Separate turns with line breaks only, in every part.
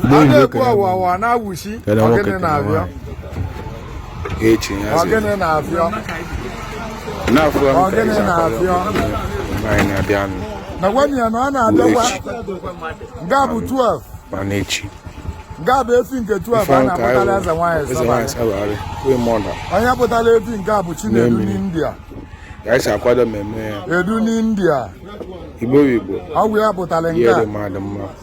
a na-ekwu ọwawa na-awụchi ọgịnị na-abịa ọgịnị na-abịa ọgịnị na-abịa na gwanụ ya na ọ na-abịakwa nga bụ 12 mana efi nke a bụ efi nke 12 a na-akpụtara eze nwaanyị sọbalị onye kpụtara efi nke a bụ Chinedu n'India ka anyị si akwado mmemme ya edu n'India Igbo Igbo ọ bụ ya kpụtara nke a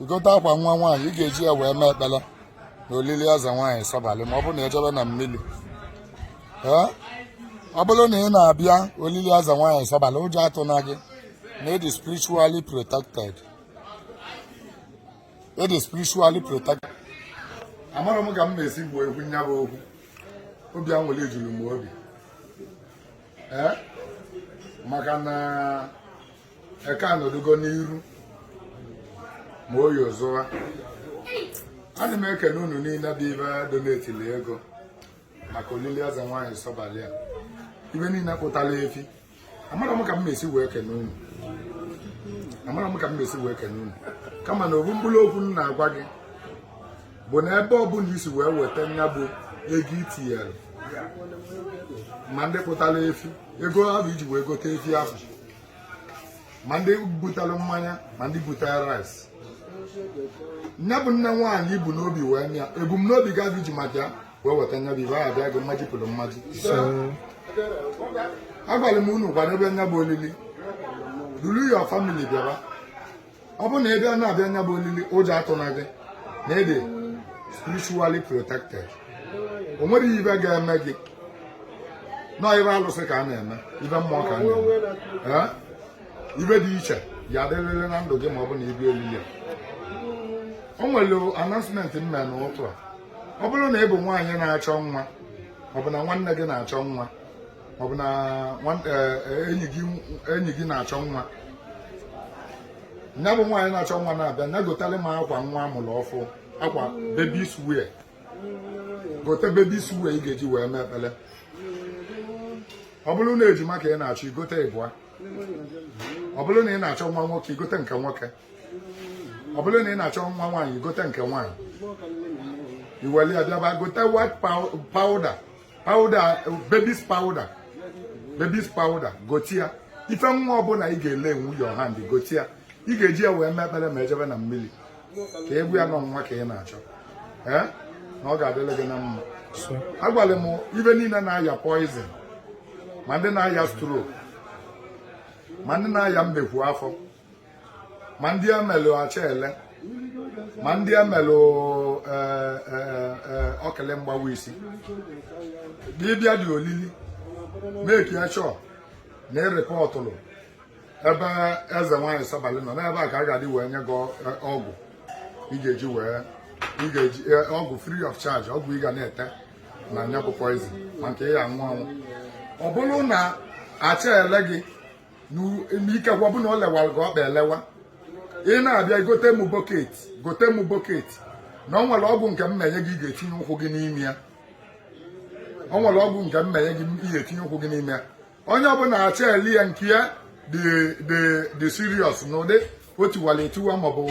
i gote akwa nwa nwaanyị ị ga-eji ya wee mee ekpele na olili eze nwaanyị sọbalị ma ọ bụrụ na e jebe na mmili ọ bụrụ na ị na-abịa olili eze nwaanyị sọbalị ụjọ atụna gị na ị dị spiritually protected ị dị spiritually protected amarọ m ka m na-esi kwuo nya bụ okwu obi anwụlị juru m obi maka na eke anọdụgo n'iru ma oyi ozụwa ana m ekene unu niile bụ ibe donetili ego maka olili eze nwaanyị sọbalị a ibe niile kpụtara efi amarọ m ka m esi wee kene unu amarọ m ka m esi wee kene unu kama na ofu mkpụrụ okwu m na-agwa gị bụ na ebe ọbụla i si wee weta nya bụ ego i tinyere ma ndị kpụtara efi ego ahụ i ji wee gote efi ahụ ma ndị butere mmanya ma ndị butere rice nya bụ nne nwaanyị i bu n'obi wee mee ya ebumnobi gị afụ i ji maka ya wee weta nya bụ ife ahụ abịa gị mmaji kwụrụ mmaji agwara m unu kwadobe nya bụ olili duru your family bịaba ọ bụrụ na ị na-abịa nya bụ olili ụjọ atụna gị na ị dị spiritually protected o nwerọ ife ga-eme gị na ọ ife alụsị ka a na-eme ife mmụọ ka a na-eme ife dị iche ya-adịrịrị na ndụ gị ma ọ bụ na ị bịa olili a o nwere announcement m mere n'ụtụtụ a ọ bụrụ na ị bụ nwaanyị na-achọ nwa ọ bụ na nwanne gị na-achọ nwa ọ bụ na e, e, enyi gị na-achọ nwa nya bụ nwaanyị na-achọ nwa na-abịa nya gota akwa nwa a mụrụ ọfụ akwa babies wear gote babies wear ị ga-eji wee mee ekpele ọ bụrụ na ejima ka ị na-achọ i gote ịbụa ọ bụrụ na ị na-achọ nwa nwoke i gote nke nwoke ọ bụrụ na ị na-achọ nwa nwaanyị i gote nke nwaanyị i weli abịaba gote white powder powder babies powder babies powder gote ife nwa ọbụla ị ga-elaynwu your hand gote ya ị ga-eji ya wee mee ekpele ma e jebe na mmili ka ị gwa ya na ọ nwa ka ị na-achọ ee na ọ ga-adịlị gị na mma agwara m ibe niile na-aya poison ma ndị na-aya stroke ma ndị na-aya mmekwu afọ ma ndị emelụ achaele ma ndị emelụ e, e, e, okili mgbawa isi dibịa dị olili make sure na ị rịpọtụlụ ebe eze nwaanyị sabalị nọ n'ebe a ka a ga-adị wee nye gị ọgwụ ị ga-eji wee ị ga-eji ọgwụ free of charge ọgwụ ị ga na-ete na nya bụ poison ma nke ị ya-aṅụ aṅụ ọ bụrụ na achaele gị nke gị ọ bụ na o lewara gị ọkpa elewa ị na-abịa gote m bucket gote m bucket na ọ nwere ọgwụ nke m na-enye gị ị ga-etinye ụkwụ gị n'ime ya ọ nwere ọgwụ nke m na-enye gị ị ga-etinye ụkwụ gị n'ime ya onye ọbụla achaele nke ya dị serious n'ụdị o tiwara etiwa maọbụ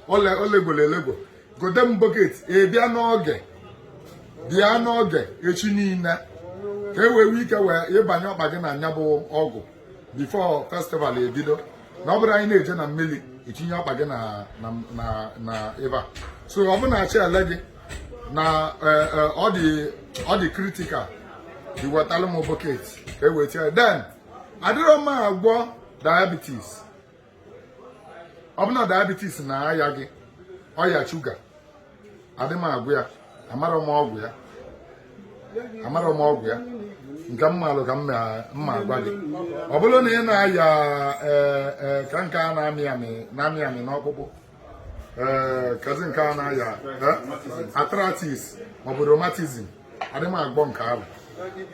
o legolo elego gote m bucket ị bịa n'oge bịa n'oge echi niile ka e wee ka e wee ịbanye ọkpa gị na nya bụ ọgwụ before festival ebido na ọ bụrụ anyị na-eje na mmiri itinye ọkpa gị na ịba so ọ bụ na achaele gị na e, e, ọ dị critical ị wetalụ m bucket ka e wee tinye then adịrọ m agwọ diabetes ọ bụ na diabetes na-aya gị ọya shuga adị m agwọ ya amarọ m ọgwụ ya amarọ m ọgwụ ya nke m maalụ ka m na-agwa gị ọ bụrụ na ị na-aya eh, eh, ka nke a na-amị amị na-amị amị n'ọkpụkpụ ee kezi nke a na-aya arthritis maọbụ rheumatism adịghị m agwọ nke ahụ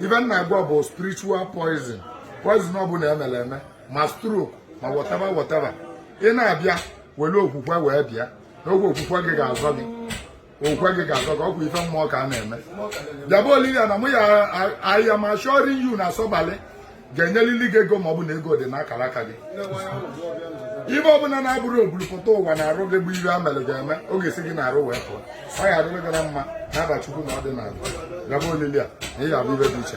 ife m na-agwọ bụ spiritual poison poison ọbụla emere eme ma stroke ma whatever whatever ị na-abịa were okwukwe wee bịa na oge okwukwe gị ga-azọ gị okwe gị ga-azọ gị ọ kwa ife mmụọ ka a na-eme bịaba olili a na mụ ya I am assuring you na sabalị ga-enyelili gị ego ma ọ bụ na ego dị n'akara aka gị ife ọbụla na-abụrọ oburupụta ụwa n'arụ gị bụ ife e mere gị eme ọ ga-esi gị n'arụ wee pụọ ọ ya adịrị gị na mma n'afa chukwu na ọdịnala bịaba olili a na ị ga-abụ ife dị iche